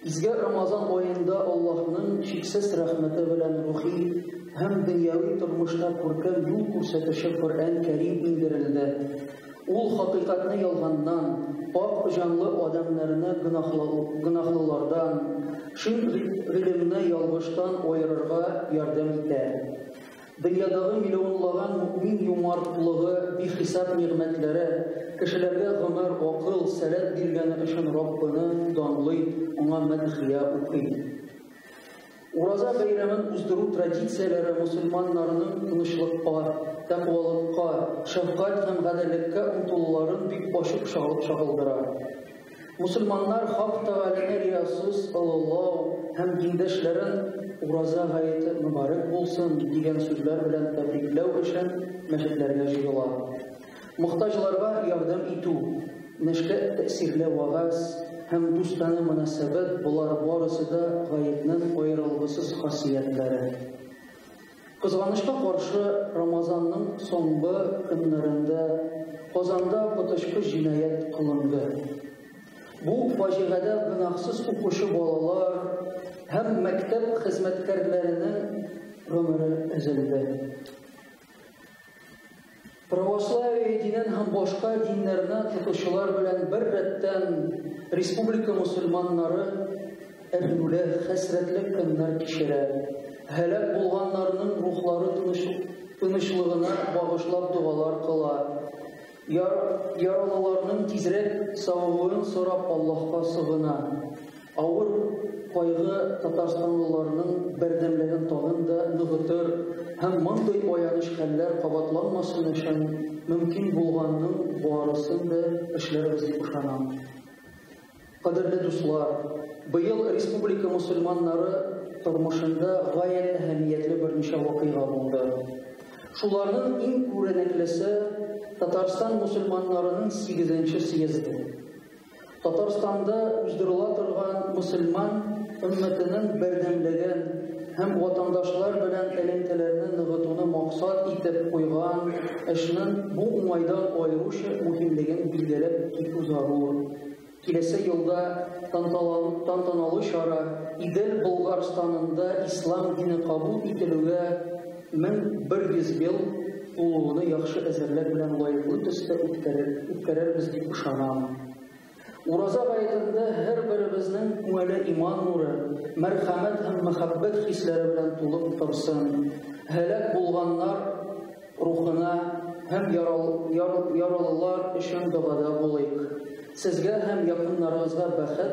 Изге Рамазан аенда Аллаһның чиксез рәхмәте белән рухи һәм дөньяви тормышта күркәм юл күрсәтүче Коръән Кәрим иңдерелде. Ул хакыйкатьне ялганнан, пакь җанлы адәмнәрне гөнаһлылардан, чын гыйлемне ялгыштан аерырга ярдәм итә. Дөньядагы миллионлаган мөэмин юмартлыгы, бихисап нигъмәтләре, кешеләргә гомер, акыл, сәләт биргәне өчен Раббыны данлый, аңа мәдхия укый. Ураза бәйрәмен уздыру традицияләре мусульманнарның тынычлыкка, тәкъвалыкка, шәфкать һәм гаделлеккә омтылуларын бик ачык чагылдыра. Мусульманнар Хак Тәгаләне риясыз олылау һәм диндәшләрен Ураза гаете мөбарәк булсын дигән сүзләр белән тәбрикләү өчен мәчетләргә җыела. Мохтаҗларга ярдәм итү, нәшкә тәэсирле вәгазь һәм дустана мөнәсәбәт, болар барысы да гаетнең аерылгысыз хасиятләре. Кызганычка каршы, Рамазанның соңгы көннәрендә Казанда коточкыч җинаять кылынды. Бу фаҗигадә гөнаһсыз укучы балалар һәм мәктәп хезмәткәрләренең гомере өзелде. Православие динен һәм башка диннәрне тотучылар белән бер рәттән республика мусульманнары әрнүле, хәсрәтле көннәр кичерә. Һәлак булганнарның рухлары тынычлыгына багышлап догалар кыла. Яралыларның тизрәк савыгуын сорап Аллаһка сыгына. Авыр кайгы татарстанлыларның бердәмлеген тагын да ныгытыр һәм мондый аяныч хәлләр кабатланмасын өчен мөмкин булганның барысын да эшләрбез дип ышанам. Кадерле дуслар, быел республика мусульманнары тормышында гаять әһәмиятле берничә вакыйга булды. Шуларның иң күренеклесе Татарстан мусульманнарының 8 нче съезды. Татарстанда уздырыла торган мөселман өммәтенең бердәмлеген һәм ватандашлар белән элемтәләрне ныгытуны максат итеп куйган эшнең бу уңайдан аеруча мөһимлеген билгеләп китү зарур. Киләсе елда тантаналы чара Идел Болгарстанында ислам дине кабул ителүгә 1100 ел тулуыны яхшы әзерлек белән лаеклы төстә үткәрербез дип ышанам. Ураза гаетендә һәрберебезнең күңеле иман нуры, мәрхәмәт һәм мәхәббәт хисләре белән тулып торсын. Һәлак булганнар рухына һәм яралылар өчен догада булыйк. Сезгә һәм якыннарыгызга бәхет,